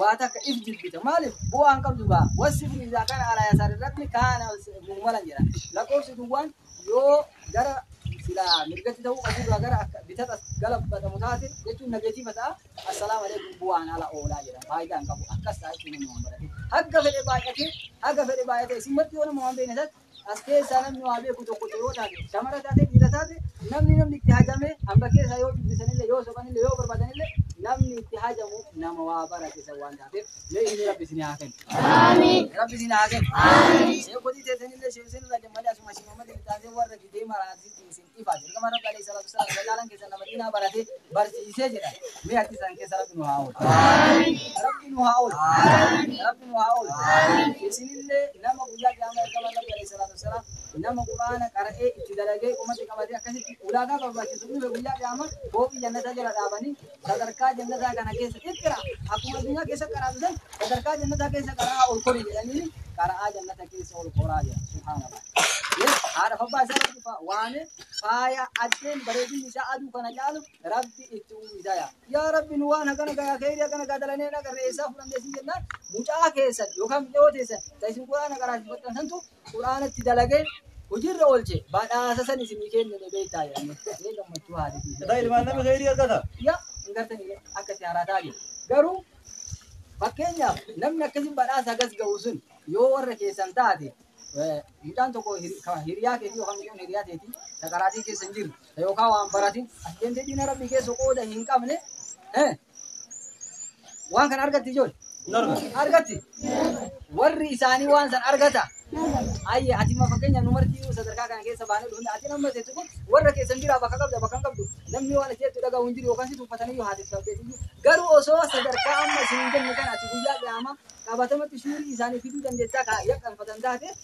waa takka if jibbita maaliif bu'aa hin qabdu gaa wasifni isaa kana alaa yasaar irratti kaana muhmalan jedha lakkoofsi duwwaan yoo gara silaa mirgatti ta'uu qabu irraa gara akka bitata galabbatamu taate jechuun nageetiifa ta'a assalaamu alaikum bu'aan ala oolaa jedha faayidaa hin qabu akkas ta'a jechuun nama waan barate hagga fedhe baay'ate haga fedhe baay'ate isin marti yoo nama waan beekne taate As keessaa namni waa beeku tokko osoo yoo taate, shamara taate, dhiira taate, namni namni itti hajamee hamba keessaa yoo dubbisanillee, yoo sobanillee, yoo barbaadanillee namni itti hajamu nama waa barate san waan taateef mee inni rabbi isin haa kennu. Rabbi isin haa kennu. Sheekotii teessanillee sheekseen irraa jammalee asuma shimamatti itti taatee warra gidee maraatti isin ifaati. Ergamaan Rabbi alayhi salaatu wassalaam irra caalaan keessan nama diinaa barate barsiisee jedha. Mee harki isaan keessa Rabbi nu haa oolchu. Rabbi nu haa oolchu. Rabbi nu haa oolchu. Isinillee nama guyyaa qiyaamaa ergamaan Rabbi alayhi salaatu wassalaam nama Qur'aana qara'ee itti dalagee qomatti qabatee akkasitti ulaagaa barbaachisu dhufe guyyaa qiyaamaa booqii jannataa jala dhaabanii Sadarkaa jannataa kana keessa iqra akkuma addunyaa keessa qaraatu san sadarkaa jannataa keessa qara'aa ol kori jedhanii qara'aa jannata keessa ol koraa jira subhaanallah Yes, haadha abbaa isaa irratti fa- waame faaya addeen bareedinni isaa aduu kana caalu rabbi itti uwwisaa yaa yaa rabbi nu waan hagana gayaa keeyri hagana gaa dalanee na garree isaa fudhannee siin jennaan mucaa keessan yookaan mi'oo teessan ta isin quraana qaraasifattan santu Qur'aana itti dalage hojiirra oolche badhaasa san isinii kennine beektaa jedhanii ee gammachuu haadhitii Edaa ilmaan nama kheyrii argata. yaa hin gartanii ree akka itti haaraa taage garuu fakkeenyaaf namni akkasiin badhaasa hagas ga'u sun yoo warra keessan taate eh, mucaan tokko hir- ka hiriyaa keetii yookaan mucaan hiriyaa teetii ta qaraatii keessa hin jirre yookaan waan baratin ati deemtee diina rabbii keessa qooda hin qabne eh, waan kana argatti ijoole argatti warri isaanii waan san argata ayye ati ma fakkeenya nu martii sadarkaa kana keessa baanee dhufne ati nama teessu kun warra keessan biraa bakka qabda bakka hin qabdu namni waan ati jettu dhagahu hin jiru yookaan si tuffatanii yoo haati tuffatteetu iyyuu garuu osoo sadarkaa amma isin hin jenne kana ati guyyaa qiyaamaa qabatamatti shuurii isaanii fiduu dandeettaa kaa yakkanfatan taate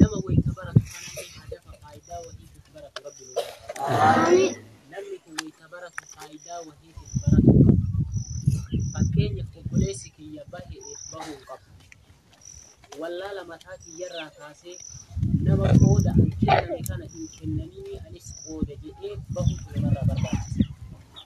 Nama wayita baratu kanallee haa dafa faayidaa wahiitiif baratu rabbi nu haa taasisu. Namni kun wayita baratu faayidaa wahiitiif baratu qaba. Fakkeenyaaf obboleessi kiyya bahe'eef bahuu qaba. Wallaala mataa kiyyarraa kaasee nama qooda an kenname kana hin kennaninii anis qooda jedhee bahutu namarraa barbaachisa.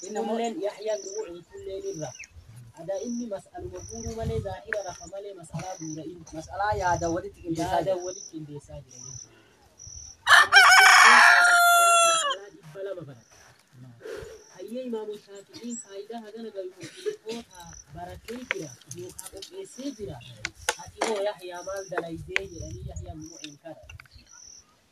Fuulleen Yahyaan dhugu in fuulleen irra. Ada inni mas'aluma guuruu malee zaahira rafa malee mas'alaa guura in. Mas'alaa yaada walitti qindeessaa Yaada jira. walitti qindeessaa jira jechuudha. Mas'alaa dhibba lama barate. Hayyee imaamu shaafi'iin faayidaa hagana gayu muslimoota baratee jira yookaan qopheessee jira. Ati hoo Yahyaa maal dalaydee jedhanii Yahyaan mu'in kana.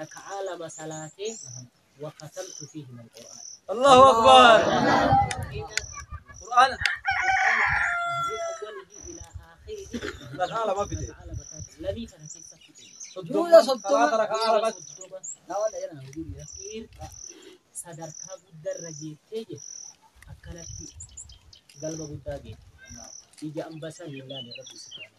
raka'aa lama salaatee wa katamtu fiihi mal qur'aan Allahu Akbar. Qur'aana. Raka'aa lama fide. Duula soddoma. sadarkaa guddarra geettee jedhe akkanatti galma guddaa geette ija ambasaan hin laale rabbi subhaanahu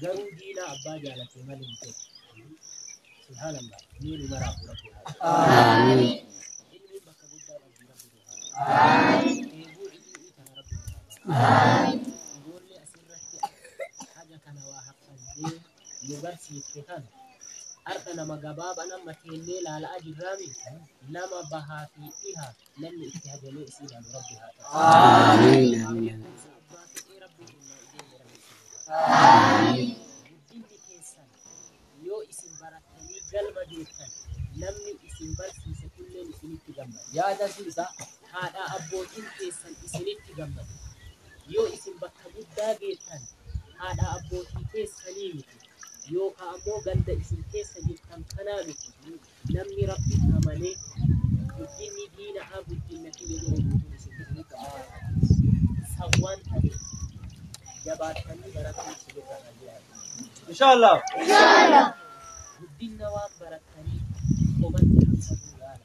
garuu diina abbaa jaalate malee hin ta'u. Subhaanallah. Mee nu maraaf rabbi haa ta'u. Aamiin. Ilmiin bakka guddaa qabdi rabbi nu haa ta'u. Aamiin. Eeguu ilmii kana rabbi nu haa ta'u. Aamiin. Ijoollee asirratti haga kana waa haffannee nu barsiifte kana har'a nama gabaabaan amma teennee laala'aa jirraami nama bahaa fi dhihaa namni itti hajalee isii laalu rabbi haa ta'u. Amiin. Amiin. Baaqee rabbi humnaa ijoollee rabbi isin Amiin. Guddinni keessan yoo isin barattanii galma geessan namni isin barsiise kunneen isinitti gammada. Yaada isaa haadha abbootiin keessan isinitti gammada. Yoo isin bakka guddaa geettan haadha abbootii keessanii miti yookaan ammoo ganda isin keessa jirtan kanaa miti. Namni Rabbiin amane guddinni diina'aa guddinna kiyya jedhee guutuun isin ta'uu qaba. San waan ta'eef jabaattanii barachuun isin irraa kan jiraatu. Inshallah. Guddinna waan barattanii qomatti ibsatuu yaala.